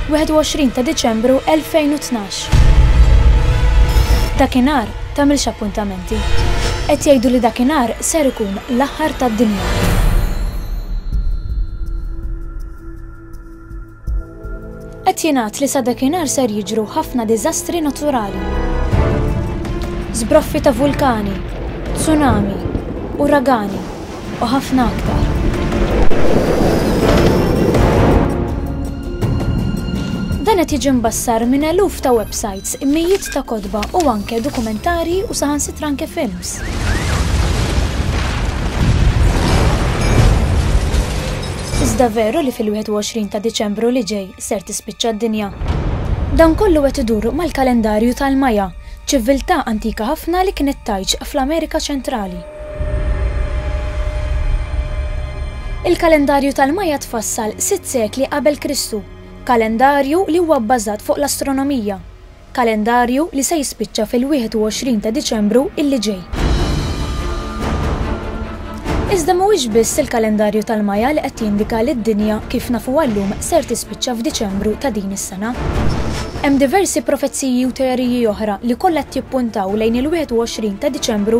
21 ta' Diċembru 2012. Dakinhar tagħmilx appuntamenti. Qed jgħidu li dakinhar ser ikun l-aħħar tad-dinja. Qed jingħad li sa dakinhar ser jiġru ħafna diżastri naturali. Zbroffi ta' vulkani, tsunami, uragani, u ħafna aktar. Dan qed jiġi mbassar minn eluf ta' websites, mijiet ta' kotba u anke dokumentari u saħansitra anke films. Iżda veru li fil-21 ta' Diċembru li ġej ser tispiċċa d-dinja. Dan kollu qed idur mal-kalendarju tal-Maja, ċiviltà antika ħafna li kienet tajġ fl-Amerika Ċentrali. Il-kalendarju tal-Maja tfassal sitt sekli qabel Kristu, kalendarju li huwa bbażat fuq l-astronomija, kalendarju li se jispiċċa fil-21 ta' Diċembru illi ġej. Iżda mhuwiex biss il-kalendarju tal-Maja li qed jindika li d-dinja kif nafuha llum ser tispiċċa f'Diċembru ta' din is-sena. Hemm diversi profeziji u teoriji oħra li kollha qed jippuntaw lejn il-21 ta' Diċembru